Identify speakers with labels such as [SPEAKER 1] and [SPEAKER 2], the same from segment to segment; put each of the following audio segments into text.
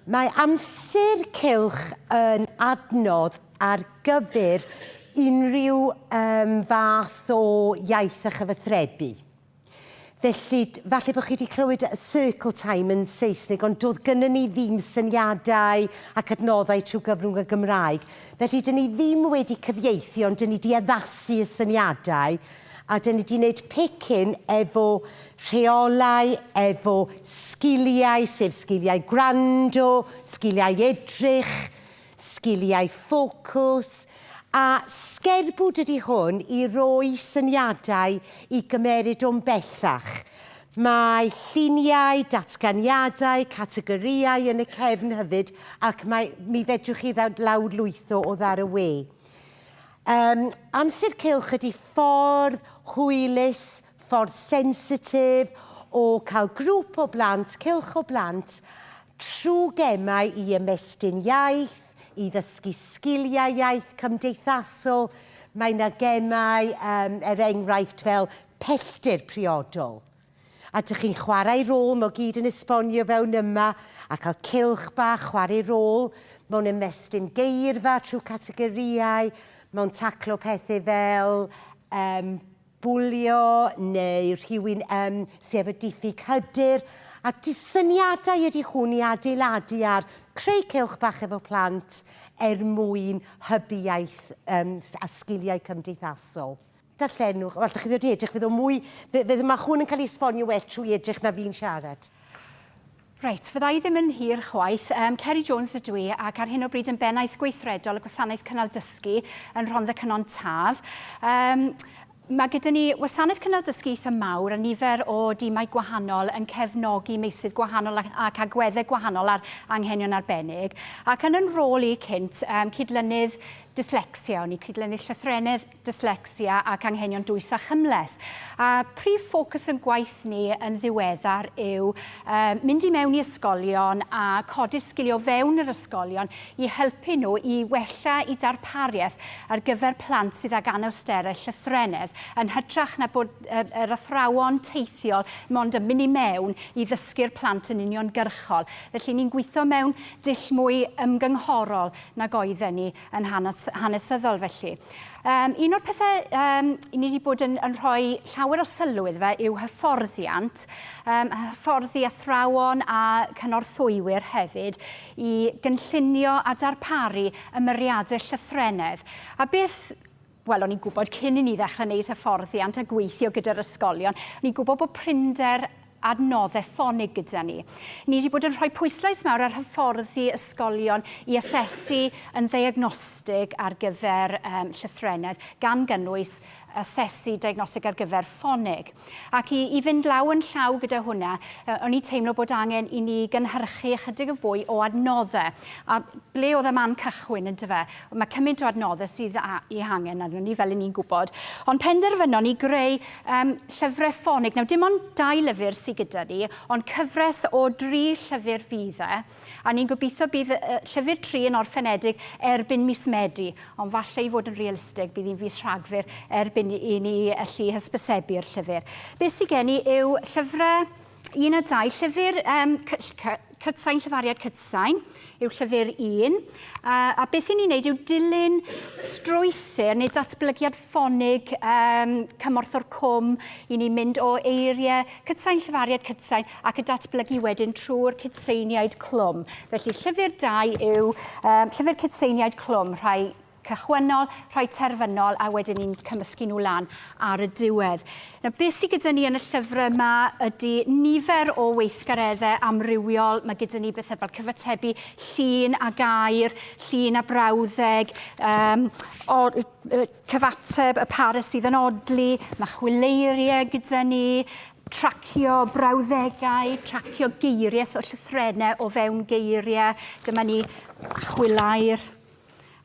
[SPEAKER 1] Mae amser cylch yn adnodd ar gyfer unrhyw um, fath o iaith a chyfathrebu. Felly, falle bod chi wedi clywed y circle time yn Saesneg, ond doedd gynnyn ni ddim syniadau ac adnoddau trwy gyfrwng y Gymraeg. Felly, dyn ni ddim wedi cyfieithu, ond dyn ni wedi addasu y syniadau. A dan ni di wneud pecyn efo rheolau, efo sgiliau, sef sgiliau gwrando, sgiliau edrych, sgiliau ffocws, a sgerbwd ydy hwn i roi syniadau i gymeryd o'n bellach. Mae lluniau, datganiadau, categorïau yn y cefn hyfyd ac mae, mi fedrwch chi ddawd lawrlwytho o ddar y we. Yym, amser cylch ydi ffordd hwylus, ffordd sensitif o cael grŵp o blant, cylch o blant, trwy gemau i ymestyn iaith, i ddysgu sgiliau iaith cymdeithasol. Mae 'na gemau, yym, er enghraifft, fel pellter priodol. A dych chi'n chwarae rôl mo gyd yn esbonio fewn yma a cael cylch bach chwarae rôl mewn ymestyn geirfa trwy categorïau mewn taclo pethe fel yym bwlio neu rhywun yym sy efo diffyg hyder a jyst syniadau ydy hwn i adeiladu ar creu cylch bach efo plant er mwyn hybu iaith yym a sgiliau cymdeithasol. Darllenwch, o, allwch chi ddod i edrych, fydd o mwy... fe- fe- mae hwn yn cael ei esbonio well trwy edrych na fi'n siarad. Reit,
[SPEAKER 2] fydda i ddim yn hir chwaith. Yym, Ceri Jones ydw i, ac ar hyn o bryd yn Bennaeth Gweithredol y Gwasanaeth Cynnal Dysgu yn Rhondda Cynon Taf. Yym, Mae gyda ni wasanaeth cynnal dysgu eitha mawr a nifer o dimau gwahanol yn cefnogi meysydd gwahanol ac, ac agweddau gwahanol ar anghenion arbennig. Ac yn yn rôl i cynt, um, cydlynydd dyslecsia, o'n i cydlynydd llythrennedd dyslecsia ac anghenion dwys a chymhleth. A prif ffocws yn gwaith ni yn ddiweddar yw uh, mynd i mewn i ysgolion a codi'r sgiliau fewn yr ysgolion i helpu nhw i wella i darpariaeth ar gyfer plant sydd ag anawsterau llythrennedd yn hytrach na bod uh, yr athrawon teithiol mond yn mynd i mewn i ddysgu'r plant yn uniongyrchol. Felly ni'n gweithio mewn dull mwy ymgynghorol nag oedden ni. yn hanes, hanesyddol felly. Um, un o'r pethau um, ni wedi bod yn, yn rhoi llawer o sylw iddo fe yw hyfforddiant, um, hyfforddi athrawon a cynorthwywyr hefyd i gynllunio a darparu ymyriadau llythrenedd. A beth Wel, o'n i'n gwybod cyn i ni ddechrau wneud hyfforddiant a gweithio gyda'r ysgolion, o'n i'n gwybod bod prinder adnoddau ffonig gyda ni. Ni wedi bod yn rhoi pwyslais mawr ar hyfforddi ysgolion i asesu yn ddiagnostig ar gyfer um, llythrennedd, gan gynnwys asesu diagnostig ar gyfer ffonig. Ac i, i fynd law yn llaw gyda hwnna, uh, o'n i'n teimlo bod angen i ni gynhyrchu ychydig yn fwy o adnoddau. A ble oedd y man cychwyn, yn dyfa? Mae cymaint o adnoddau sydd a, i hangen arno ni, fel i ni'n gwybod. Ond penderfynon ni greu um, llyfrau ffonig. Nawr, dim ond dau lyfr sydd gyda ni, ond cyfres o dri llyfr fydd e. A ni'n gobeithio bydd Llyfr Tri yn orffenedig erbyn mis Medi, ond falle i fod yn realistig bydd hi'n fis Rhagfyr erbyn i ni allu hysbysebu'r llyfr. Be sydd gen i yw llyfrau un a dau, llyfr um, Cytsain, Llyfariad Cytsain, yw llyfr un. A, a beth i ni'n neud yw dilyn strwythyr neu datblygiad ffonig um, cymorth o'r cwm i ni mynd o eiriau cydsain, llyfariad cydsain ac y datblygu wedyn trwy'r cydseiniaid clwm. Felly llyfr dau yw um, llyfr cydseiniaid clwm, rhai cychwynnol, rhai terfynol a wedyn ni'n cymysgu nhw lan ar y diwedd. Na, beth sydd gyda ni yn y llyfr yma ydy nifer o weithgareddau amrywiol. Mae gyda ni bethau fel cyfatebu llun a gair, llun a brawddeg, um, y cyfateb, y parys sydd yn odli, mae chwileiriau gyda ni, tracio brawddegau, tracio geiriau, so llythrenau o fewn geiriau. Dyma ni chwilair.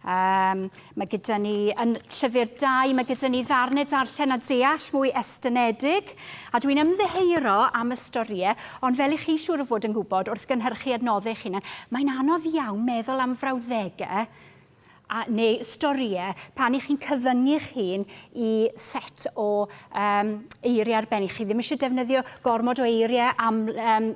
[SPEAKER 2] Um, mae gyda ni yn llyfr 2, mae gyda ni ddarnau darllen a deall mwy estynedig, a dwi'n ymddeheiro am y storiau, ond fel i chi siŵr o fod yn gwybod wrth gynhyrchu adnoddau eich hunan, mae'n anodd iawn meddwl am frawddegau a neu storïau pan i chi'n cyfyngu'ch hun i set o um, eiriau arbennig. Chi ddim eisiau defnyddio gormod o eiriau, am, um,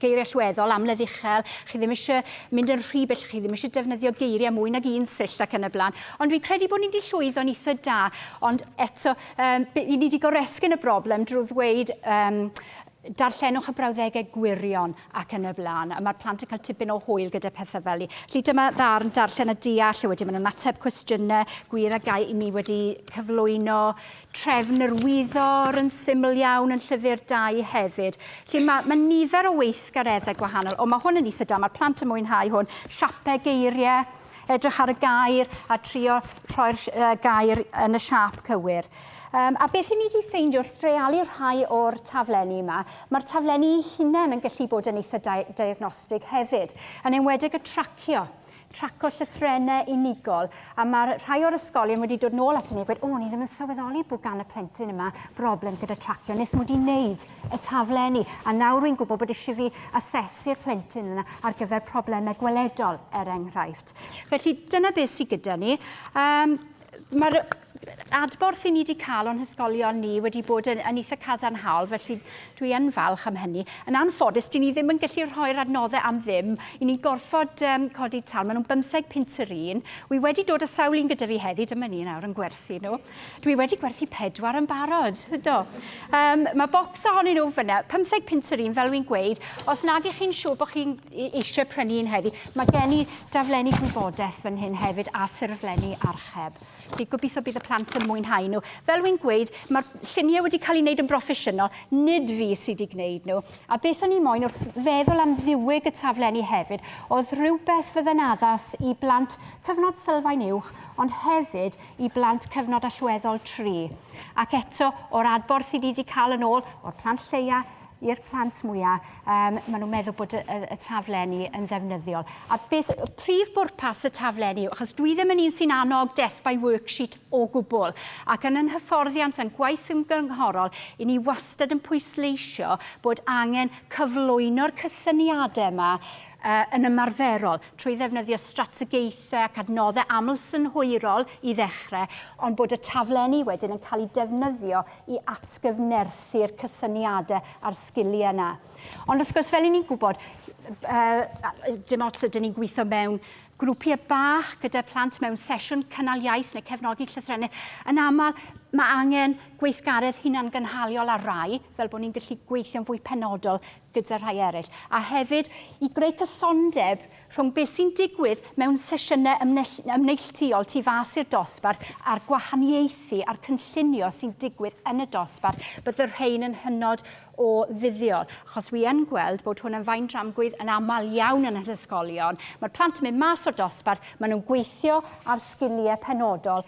[SPEAKER 2] geiriau llweddol, amledd uchel, chi ddim eisiau mynd yn rhy bell, chi ddim eisiau defnyddio geiriau mwy nag un sill ac yn y blaen. Ond fi'n credu bod ni wedi llwyddo'n eitha da, ond eto, um, ni wedi goresgyn y broblem drwy ddweud um, darllenwch y brawddegau gwirion ac yn y blaen. A mae'r plant yn cael tipyn o hwyl gyda pethau fel i. Felly dyma ddarn darllen a deall, a wedyn maen nhw'n ateb cwestiynau gwir a gau i mi wedi cyflwyno trefn yr wyddor yn syml iawn yn llyfr 2 hefyd. Felly mae, mae nifer o weithgareddau gwahanol. O, mae hwn yn eitha da, mae'r plant yn mwynhau hwn. Siapau geiriau, edrych ar y gair a trio rhoi'r gair yn y siap cywir. Yym, a beth 'yn ni 'di ffeindio wrth dreialu rhai o'r taflenni 'ma, ma'r taflenni 'u hunen yn gallu bod yn eitha' dia- diagnostig hefyd, yn enwedig y tracio, traco llythrenne unigol, a ma' rhai o'r ysgolion wedi dod nôl aton ni a gweud, O, ni ddim yn sylweddoli bod gan y plentyn yma broblem gyda tracio, nes mod i'n neud y taflenni, a nawr wi'n gwybod bod eisiau fi asesu'r plentyn yna ar gyfer problemau gweledol, er enghraifft. Felly, dyna beth sydd gyda ni. Um, Mae'r adborth i ni wedi cael o'n hysgolion ni wedi bod yn, yn eitha cadarnhaol, felly dwi yn falch am hynny. Yn anffodus, dyn ni ddim yn gallu rhoi'r adnoddau am ddim. I ni'n gorfod um, codi tal. Maen nhw'n bymtheg pint yr un. Wi wedi dod â sawl un gyda fi heddi, dyma ni nawr yn gwerthu nhw. Dwi wedi gwerthu pedwar yn barod. Do. Um, mae bocs ohonyn nhw fyna, pymtheg pint yr un, fel wy'n gweud. Os nag ych chi'n siŵr bod chi'n e-, eisiau prynu un heddi, mae gen i daflenni gwybodaeth fan hyn hefyd a ffurflenni archeb. Felly, gobeithio bydd y plant yn mwynhau nhw. Fel wy'n gweud, mae'r lluniau wedi cael ei wneud yn broffesiynol, nid fi sydd wedi gwneud nhw. A beth o'n i moyn wrth feddwl am ddiwyg y taflenni hefyd, oedd rhywbeth fydde'n addas i blant cyfnod sylfaen uwch, ond hefyd i blant cyfnod allweddol tri. Ac eto, o'r adborth i ni wedi cael yn ôl o'r plant lleia, i'r plant mwyaf, um, maen nhw'n meddwl bod y, y, y taflenni yn ddefnyddiol. A beth y prif bwrpas y taflenni, achos dwi ddim yn un sy'n annog death by worksheet o gwbl, ac yn yn hyfforddiant a'n gwaith ymgynghorol, i ni wastad yn pwysleisio bod angen cyflwyno'r cysyniadau yma uh, yn ymarferol trwy ddefnyddio strategaethau ac adnoddau aml synhwyrol i ddechrau, ond bod y taflenni wedyn yn cael eu defnyddio i atgyfnerthu ddatblygu'r cysyniadau a'r sgiliau yna. Ond wrth gwrs, fel i ni'n gwybod, dim ots ydyn ni'n gweithio mewn grwpiau bach gyda plant mewn sesiwn cynnal iaith neu cefnogi llythrennau, yn aml mae angen gweithgaredd hunangynhaliol ar rai, fel bod ni'n gallu gweithio'n fwy penodol gyda rhai eraill, a hefyd i greu cysondeb rhwng beth sy'n digwydd mewn sesiynau ymneilltuol tu fas i'r dosbarth a'r gwahaniaethu a'r cynllunio sy'n digwydd yn y dosbarth, bydd y rhain yn hynod o fuddiol, achos wi yn gweld bod hwn yn faen dramgwydd yn aml iawn yn yr ysgolion. Mae'r plant yn mynd mas o'r dosbarth, maen nhw'n gweithio ar sgiliau penodol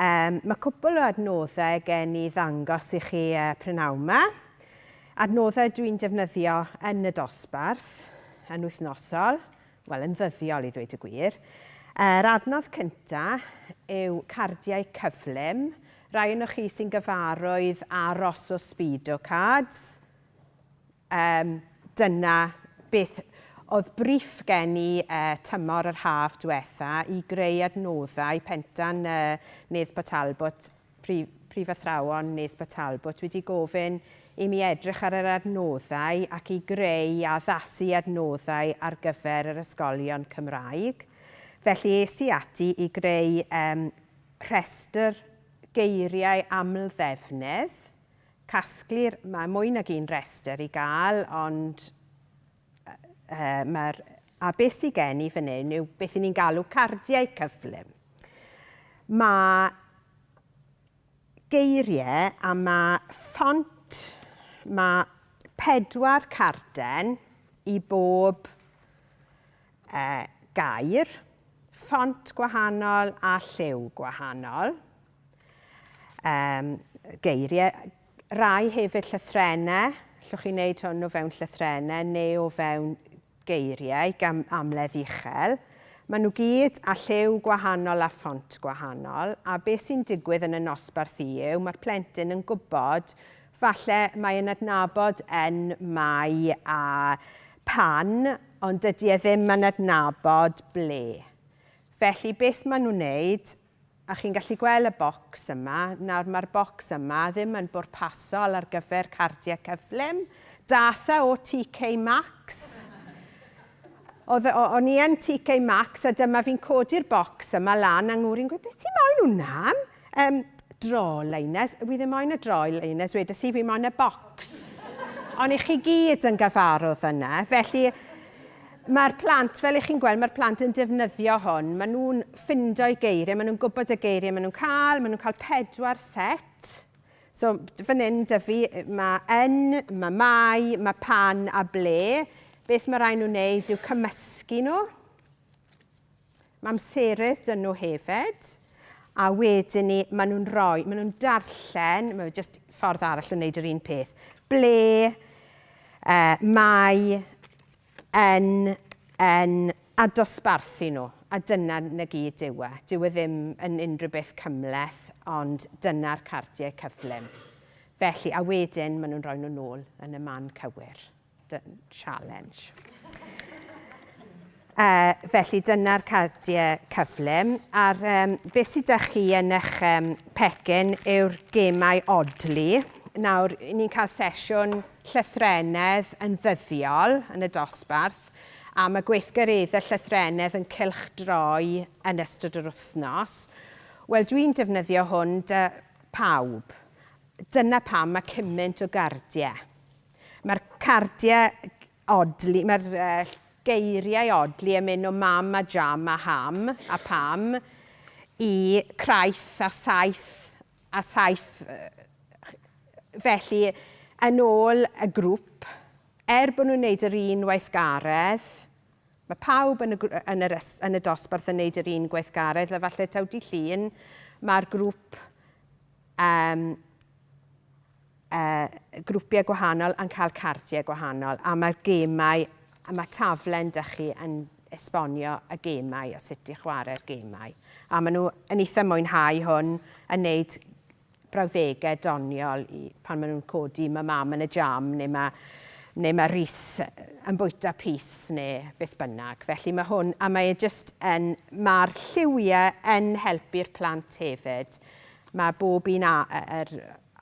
[SPEAKER 1] Um, mae cwpl o adnoddau gen i ddangos i chi uh, prynawn yma. Adnoddau dwi'n defnyddio yn y dosbarth, yn wythnosol, wel yn ddyddiol i ddweud y gwir. Yr adnodd cyntaf yw cardiau cyflym. Rai o'n chi sy'n gyfarwydd â Rosso Speedo cards, Yym, dyna beth oedd briff gen i tymor yr haf diwetha' i greu adnoddau Pentan Neathpa Talbot, prif prif athrawon Neathpa Talbot wedi gofyn i mi edrych ar yr adnoddau ac i greu a addasu adnoddau ar gyfer yr ysgolion Cymraeg. Felly es i ati i greu yym rhestr geiriau aml-ddefnydd Casglir, mae mwy nag un rhestr i gael ond mae'r a beth sydd gen i fan hyn yw beth i ni'n galw cardiau cyflym. Mae geiriau a mae ffont, mae pedwar carden i bob gair,
[SPEAKER 3] ffont gwahanol a lliw gwahanol. Um, geiriau, rai hefyd llythrenau, llwch chi'n neud hwn o fewn llythrenau neu o fewn geiriau gan amledd uchel. Maen nhw gyd a lliw gwahanol a ffont gwahanol, a beth sy'n digwydd yn y nosbarth i yw, mae'r plentyn yn gwybod, falle mae yn adnabod yn mai a pan, ond dydy e ddim yn adnabod ble. Felly beth maen nhw'n wneud, A chi'n gallu gwel y bocs yma? Nawr ma'r bocs yma ddim yn bwrpasol ar gyfer cardiau cyflym. Datha o TK Max. Oedd o, o'n i yn TK Max a dyma fi'n codi'r bocs yma lan a ngwr i'n gweud be ti moyn hwnna am? Yym, draw liners. Wi ddim moyn y draw liners wedes i, fi moyn y bocs. O'n i chi gyd yn gyfarwdd yna, felly. Mae'r plant, fel ych chi'n gweld, mae'r plant yn defnyddio hwn. Maen nhw'n ffindo'i geiriau, maen nhw'n gwybod y geiriau maen nhw'n cael, maen nhw'n cael pedwar set. So, fan hyn, Dyfi, mae yn, mae mai, mae pan a ble. Beth mae rhaid nhw'n wneud yw cymysgu nhw. Mae amserydd dyn nhw hefyd. A wedyn ni, maen nhw'n rhoi, maen nhw'n darllen, mae jyst ffordd arall o wneud yr un peth. Ble, uh, mai, yn yn a dosbarthu nhw, a dyna na gyd yw e. Dyw e ddim yn unrhyw beth cymhleth, ond dyna'r cardiau cyflym. Felly, a wedyn maen nhw'n rhoi nhw nôl yn y man cywir. Dy- challenge. Uh, felly dyna'r cardiau cyflym. A'r um, beth sydd â chi yn eich um, pecyn yw'r gemau odli. Nawr, ni'n cael sesiwn llythrennedd yn ddyddiol yn y dosbarth a mae gweithgareddau llythrennedd yn cylchdroi yn ystod yr wythnos, wel dwi'n defnyddio hwn 'da pawb. Dyna pam mae cymaint o gardiau. Mae'r cardiau odli, mae'r geiriau odli yn mynd o mam a jam a ham a pam i craith a saith a saith felly yn ôl y grŵp, er bod nhw'n wneud yr un weithgaredd, mae pawb yn y, yn yr, yn y dosbarth yn wneud yr un gweithgaredd, a falle taw di llun, mae'r grŵp um, Yy grwpiau gwahanol yn cael cardiau gwahanol a mae'r gemau a mae taflen da chi yn esbonio y gemau a sut i chwarae'r gemau. A maen nhw yn eitha mwynhau hwn yn neud brawddegau doniol i pan maen nhw'n codi mae mam yn y jam neu mae neu mae Rhys yn bwyta pys neu beth bynnag. Felly mae hwn, a mae e jyst yn, mae'r lliwiau yn helpu'r plant hefyd. Mae bob un a, yr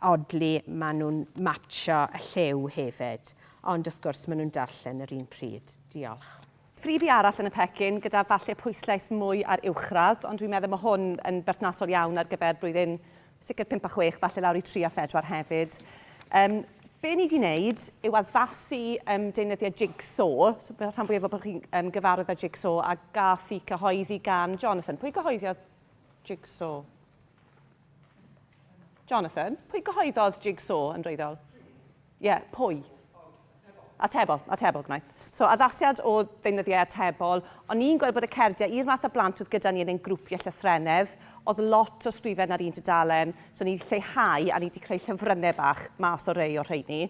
[SPEAKER 3] Oddly maen nhw'n matsio y lliw hefyd, ond wrth gwrs maen nhw'n darllen yr un pryd. Diolch. Freebie arall
[SPEAKER 4] yn y pecyn, gyda falle pwyslais mwy ar uwchradd, ond dwi'n meddwl mae hwn yn berthnasol iawn ar gyfer blwyddyn sicr pump a chwech, falle lawr i tri a phedwar hefyd. Yym, be ni 'di wneud yw addasu yym deunyddiau jig-saw, so fel rhan fwyaf o bod chi'n yym gyfarwydd â jig-saw, a gaf fi cyhoeddi gan Jonathan. Pwy gyhoeddiodd jig-saw? Jonathan, pwy gyhoeddodd Jigsaw yn wreiddiol? Ie, yeah, pwy? Atebol, atebol gwnaeth. So, addasiad o ddeunyddiau atebol, ond ni'n gweld bod y cerdiau i'r math o blant oedd gyda ni yn ein grwpiau llythrennedd, oedd lot o sgrifen ar un tudalen, so ni wedi lleihau a ni wedi creu llyfrynnau bach mas o rei o'r rheini.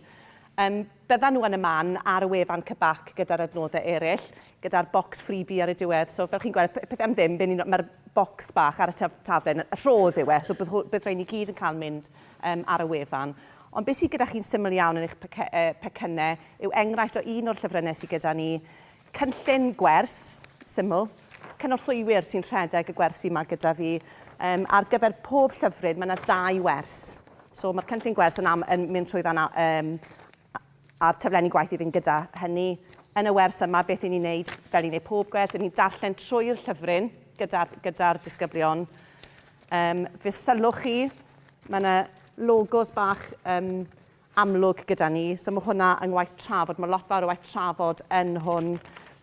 [SPEAKER 4] Um, Byddan nhw yn y man ar y wefan Cybac gyda'r adnoddau eraill, gyda'r bocs freebie ar y diwedd. So fel chi'n gweld, pe- peth am ddim, be' ni'n... Mae'r bocs bach ar y taf- taflen, y rhodd yw e, so bydd hw- bydd rhain i gyd yn cael mynd yym ar y wefan. Ond be' sy gyda chi'n syml iawn yn eich pecy- yy pecynnau yw enghraifft o un o'r llyfrynnau sy gyda ni, Cynllun gwers, syml, cynorthwywyr sy'n rhedeg y gwersi 'ma gyda fi. Um, ar gyfer pob llyfryn, mae yna ddau wers. So mae'r cynllun gwers yn, am, yn mynd trwy fan um, a'r taflenni gwaith i fynd gyda hynny. Yn y wers yma, beth i ni'n neud, fel i wneud pob gwers, i ni'n darllen trwy'r llyfryn gyda'r gyda disgyblion. Um, fe sylwch chi, mae yna logos bach um, amlwg gyda ni. So mae hwnna yng ngwaith trafod. Mae lot fawr o waith trafod yn hwn.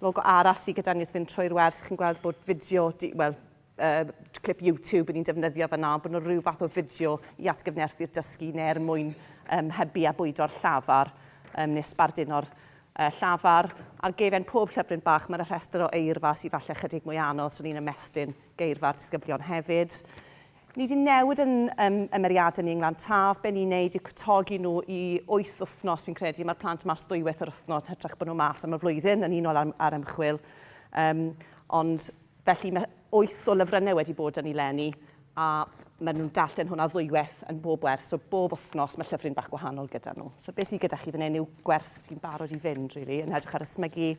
[SPEAKER 4] Logo arall sydd gyda ni wrth fynd trwy'r wers, chi'n gweld bod fideo, wel, uh, clip YouTube yn ni'n defnyddio fyna, bod nhw rhyw fath o fideo i atgyfnerthu'r dysgu neu er mwyn um, hybu a bwydo'r llafar um, neu sbarduno'r uh, llafar. Ar gefen pob llyfryn bach mae'r rhestr o eirfa sydd falle chydig mwy anodd, so ni'n ymestyn geirfa'r disgyblion hefyd. Ni di newid yn um, ymeriadau ni yng Nglan Taf. Be ni'n neud yw cytogi nhw i wyth wythnos, fi'n credu. Mae'r plant mas ddwywaith yr wythnos, hytrach bod nhw mas am y flwyddyn, yn unol ar, ar ymchwil. Um, ond felly mae wyth o lyfrynnau wedi bod yn ei lenni, a maen nhw'n darllen hwnna ddwywaith yn bob wers. So bob wythnos mae llyfryn bach gwahanol gyda nhw. So beth sydd gyda chi fan hyn yw gwers sy'n barod i fynd, really, yn edrych ar ysmygu,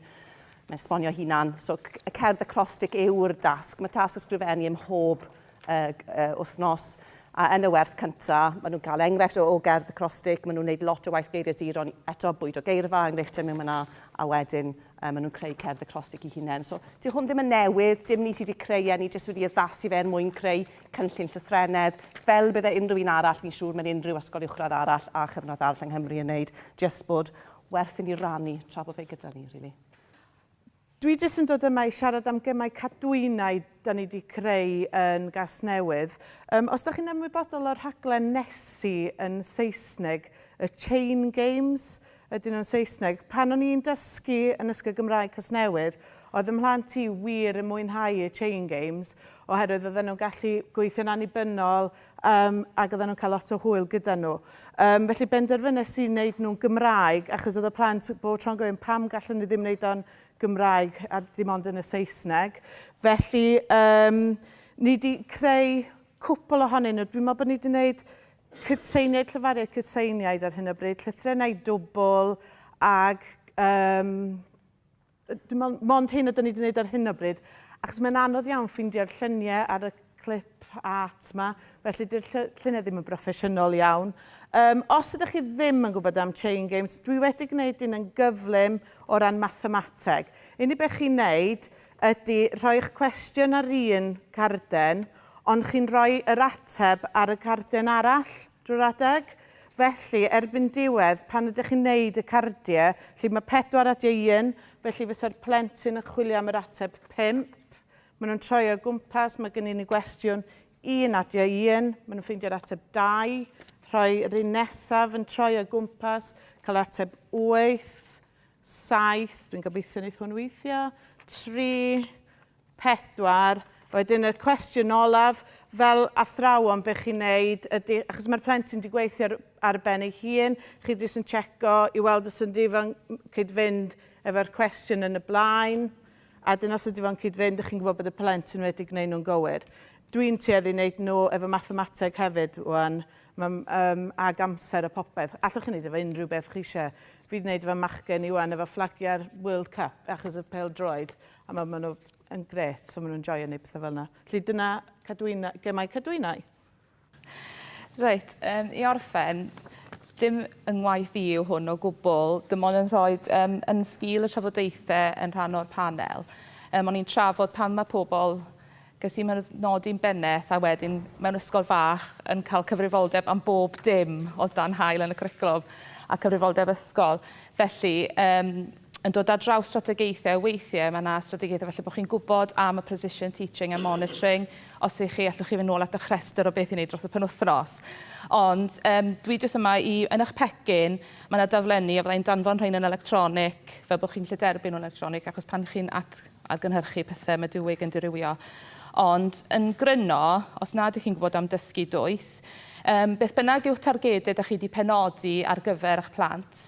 [SPEAKER 4] mae'n esbonio hunan. So y cerdd acrostic yw'r dasg. Mae tasg ysgrifennu ym mhob wythnos, a yn y wers cynta, maen nhw'n cael enghraifft o o gerdd acrostig, maen nhw'n wneud lot o waith geiriaduron, eto bwydo geirfa, enghreifftiau mewn fanna, a wedyn um, maen nhw'n creu cerdd acrostig i hunain. So, di hwn ddim yn newydd, dim ni sydd wedi creu e, ni jyst wedi addasu fe er mwyn creu cynllun llythrenedd, fel bydde unrhyw un arall, fi'n siŵr mae'n unrhyw ysgol uwchradd arall a chyfnod arall yng Nghymru yn wneud, jyst bod werth i ni rannu tra bod fe gyda ni, rili. Really.
[SPEAKER 5] Dwi jyst yn dod yma i siarad am gemau cadwynau 'da ni 'di creu yn Gasnewydd. Yym, os 'da chi'n ymwybodol o'r rhaglen Nessie yn Saesneg, y Chain Games ydyn nhw'n Saesneg. Pan o'n i'n dysgu yn Ysgol Gymraeg Casnewydd, oedd y mhlant i wir yn mwynhau y Chain Games, oherwydd oedden nhw'n gallu gweithio'n annibynnol, Yym, ac oedden nhw'n cael lot o hwyl gyda nhw. Yym, felly benderfynes i wneud nhw'n Gymraeg, achos oedd y plant bob tro'n gofyn pam gallwn ni ddim wneud o'n Gymraeg a dim ond yn y Saesneg. Felly, um, ni wedi creu cwpl ohonyn nhw. Dwi'n meddwl bod ni wedi gwneud cytseiniaid, llyfariaid cytseiniaid ar hyn o bryd, llythrennau dwbl ac um, Dim ond, mond hyn ydyn ni wedi gwneud ar hyn o bryd, achos mae'n anodd iawn ffeindio'r lluniau ar y clip art yma, felly dy'r lluniau ddim yn broffesiynol iawn. Um, os ydych chi ddim yn gwybod am chain games, dwi wedi gwneud un yn gyflym o ran mathemateg. Unig beth chi'n neud ydy rhoi'ch cwestiwn ar un carden, ond chi'n rhoi yr ateb ar y carden arall. Drwy'r adeg. Felly, erbyn diwedd, pan ydych chi'n neud y cardiau, felly mae pedwar at ei un, felly fysa'r plentyn yn chwilio am yr ateb pump. Maen nhw'n troi o gwmpas, mae gen i ni gwestiwn un at ei un, maen nhw'n ffeindio'r ateb dau, rhoi yr un nesaf yn troi o gwmpas, cael ateb wyth, saith, dwi'n gobeithio wneith hwn weithio, tri, pedwar. Wedyn y cwestiwn olaf, fel athrawon, be chi'n neud ydy, achos mae'r plentyn wedi gweithio ar, ar ben ei hun, chi jyst yn checo i weld os ydy fo'n cyd-fynd efo'r cwestiwn yn y blaen, a dyn os ydy fo'n cyd-fynd, chi'n gwybod bod y plentyn wedi gwneud nhw'n gywir. Dwi'n tueddu wneud nhw efo mathemateg hefyd, wan, um, ag amser a popeth. Allwch chi wneud efo unrhyw beth chi eisiau. Fi wedi wneud efo machgen i wan efo fflagiau'r World Cup, achos y pel droed, A ma' ma' nhw yn grêt, so ma' nhw'n joio neud petha fel 'na. Felly dyna cadwyna- gemau cadwynau.
[SPEAKER 6] Reit yym i orffen dim 'y ngwaith i yw hwn o gwbwl dim ond yn rhoid yym yn sgil y trafodaethe yn rhan o'r panel yym o'n i'n trafod pan ma' pobol Ges i fy nodi'n bennaeth a wedyn mewn ysgol fach yn cael cyfrifoldeb am bob dim oedd dan haul yn y cwricwlwm a cyfrifoldeb ysgol. Felly, um, yn dod ar draws strategaethau, weithiau mae yna strategaethau felly bod chi'n gwybod am y precision teaching a monitoring. Os ych chi, allwch chi fynd nôl at eich rhestr o beth i wneud dros y penwthnos. Ond um, dwi jyst yma i, yn eich pecyn, mae yna daflenni a fyddai'n danfon rhain yn electronig, fel bod chi'n lle derbyn nhw'n electronig, achos pan chi'n at a gynhyrchu pethau Medywig yn dirywio. Ond, yn gryno, os nad ych chi'n gwybod am dysgu dwys, um, beth bynnag yw'ch targedau da chi wedi penodi ar gyfer eich plant,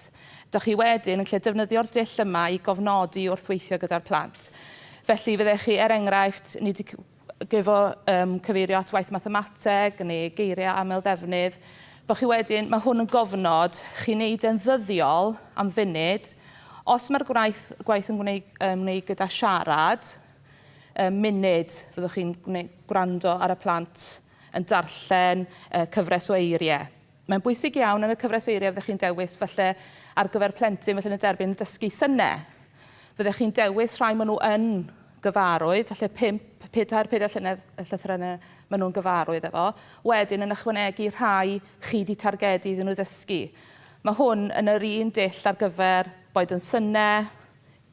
[SPEAKER 6] da chi wedyn yn lle defnyddio'r dull yma i gofnodi wrth weithio gyda'r plant. Felly, fyddech chi, er enghraifft, nid gyfo um, cyfeirio at waith mathemateg neu geiriau aml ddefnydd, bod chi wedyn, mae hwn yn gofnod, chi'n neud e'n ddyddiol am funud, os mae'r gwaith, gwaith yn gwneud, um, gwneud gyda siarad, um, munud fyddwch chi'n gwrando ar y plant yn darllen uh, cyfres o eiriau. Mae'n bwysig iawn yn y cyfres eiriau fyddech chi'n dewis falle ar gyfer plentyn felly yn y derbyn yn dysgu synau. Fyddech chi'n dewis rhai maen nhw yn gyfarwydd, falle pump, pedair, pedair llynedd y llythrennau maen nhw'n gyfarwydd efo. Wedyn yn ychwanegu rhai chi wedi targedu iddyn nhw ddysgu. Mae hwn yn yr un dull ar gyfer boed yn synau,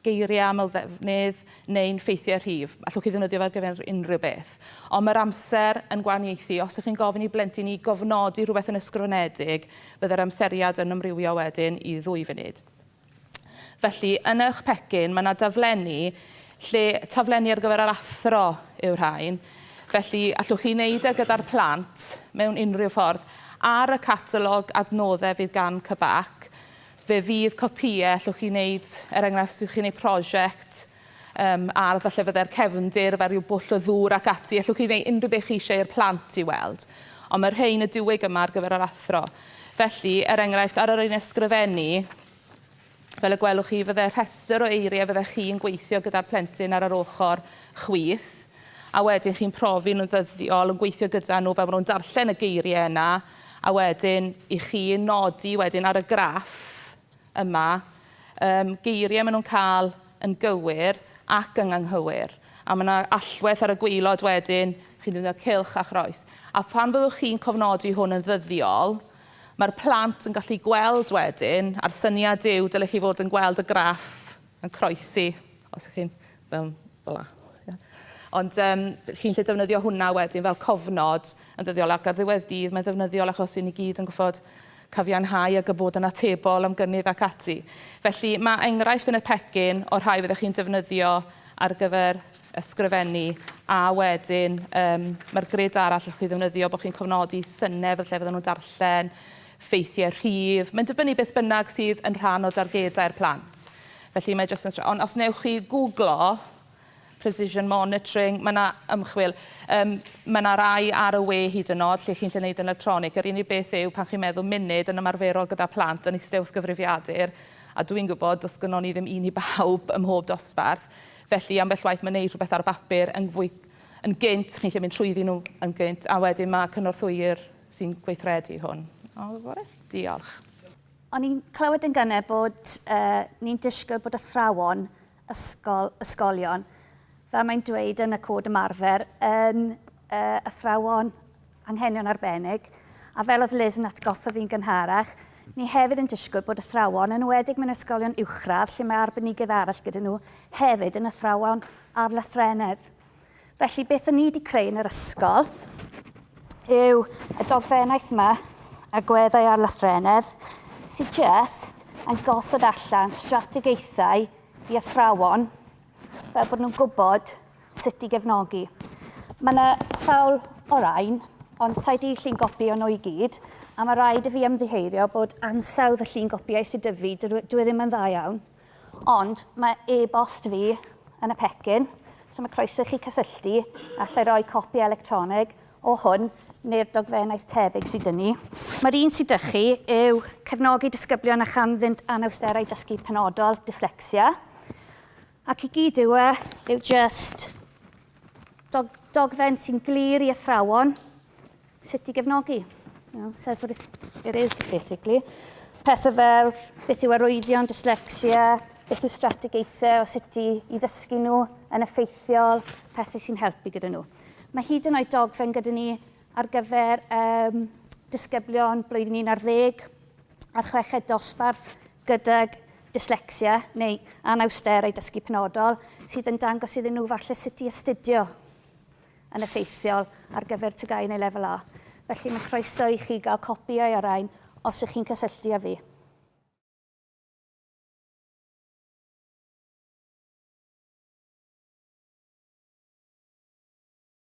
[SPEAKER 6] geiriau amlddefnydd neu'n ffeithiau rhif. Allwch chi ddefnyddio fe ar gyfer unrhyw beth. Ond mae'r amser yn gwahaniaethu. Os ych chi'n gofyn i blentyn i gofnodi rhywbeth yn ysgrifenedig, byddai'r amseriad yn amrywio wedyn i ddwy funud. Felly, yn eich pecyn, mae yna daflenni lle taflenni ar gyfer yr athro yw'r rhain. Felly, allwch chi wneud e gyda'r plant mewn unrhyw ffordd. Ar y catalog adnoddau fydd gan CBAC, Fe fydd copïau allwch chi wneud, er enghraifft, os ydych chi'n gwneud prosiect um, ardd a llefyddau'r cefndir, fel rhyw bwll o ddŵr ac ati, allwch chi wneud unrhyw beth chi eisiau i'r plant i weld. Ond mae rhain y diwyg yma ar gyfer yr athro. Felly, er enghraifft, ar yr ein ysgrifennu, fel y gwelwch chi, fydde rhestr o eiriau fyddech chi'n gweithio gyda'r plentyn ar yr ochr chwith, a wedyn chi'n profi nhw'n ddyddiol, yn gweithio gyda nhw fel maen nhw'n darllen y geiriau yna, A wedyn i chi nodi wedyn ar y graff yma um, geiriau maen nhw'n cael yn gywir ac yn anghywir. A mae yna allwedd ar y gweilod wedyn, chi'n defnyddio cylch a chroes. A phan fyddwch chi'n cofnodi hwn yn ddyddiol, mae'r plant yn gallu gweld wedyn, a'r syniad yw dylech chi fod yn gweld y graff Yn croesi, os ych chi'n mewn fel la. Ond um, chi'n lle defnyddio hwnna wedyn fel cofnod yn ddyddiol ac ar ddiwedd dydd mae'n ddefnyddiol achos i ni gyd yn gwybod cafianhau ag y bod yn atebol am gynnydd ac ati. Felly mae enghraifft yn y pecyn o'r rhai fyddwch chi'n defnyddio ar gyfer ysgrifennu a wedyn um, mae'r grid arall o'ch chi ddefnyddio bod chi'n cofnodi synnau fel lle fydden nhw'n darllen ffeithiau rhif, mae'n dibynnu beth bynnag sydd yn rhan o dargedau'r plant. Felly mae jyst yn... Ond os wnewch chi googlo precision monitoring, mae yna ymchwil, um, mae yna rai ar y we hyd yn oed lle chi'n lle wneud yn electronig. Yr unig beth yw pan chi'n meddwl munud yn ymarferol gyda plant yn eistedd wrth gyfrifiadur, a dwi'n gwybod does gynnwn ni ddim un i bawb ym mhob dosbarth, felly ambell waith mae'n neud rhywbeth ar y bapur yn fwy yn gynt, chi'n lle mynd trwyddi nhw yn gynt, a wedyn mae cynorthwyr sy'n gweithredu hwn. O, fore. Diolch. O'n
[SPEAKER 2] i'n clywed yn gynnau bod uh, ni'n disgwyl bod athrawon ysgol, ysgolion, fel mae'n dweud yn y cod ymarfer, yn uh, athrawon anghenion arbennig, a fel oedd Liz yn atgoffa fi'n gynharach, Ni hefyd yn disgwyl bod athrawon, yn wedig mewn ysgolion uwchradd lle mae arbenigedd arall gyda nhw, hefyd yn athrawon ar lythrenedd. Felly beth o'n i wedi creu yn yr ysgol yw y dogfennaeth yma, agweddau ar lythrenedd, sydd just yn gosod allan strategaethau i athrawon fel bod nhw'n gwybod sut i gefnogi. Mae yna sawl o rain, ond sa'i di llun gopi o'n nhw i gyd, a mae rhaid i fi ymddiheirio bod ansawdd y llun gopiau sydd dyfu, dwi ddim yn dda iawn. Ond mae e-bost fi yn y pecyn, so mae croeso i chi cysylltu, a allai roi copi electronig o hwn neu'r dogfennaeth tebyg sydd dyn ni. Mae'r un sydd dych chi yw cefnogi disgyblion a chanddynt anawsterau dysgu penodol, dyslecsia, ac i gyd yw e yw just dog dogfen sy'n glir i athrawon sut i gefnogi. You know, says what it is, basically. Pethau fel, beth yw arwyddion, dyslexia, beth yw strategaethau o sut i, i ddysgu nhw yn effeithiol, pethau sy'n helpu gyda nhw. Mae hyd yn oed dogfen gyda ni ar gyfer um, disgyblion blwyddyn un ar ddeg a'r chweched dosbarth gydag dyslexia neu anawsterau dysgu penodol sydd yn dangos iddyn nhw falle sut i astudio yn effeithiol ar gyfer TGAU neu Lefel A, felly mae croeso i chi gael copïau o'r rhain os ych chi'n cysylltu â fi.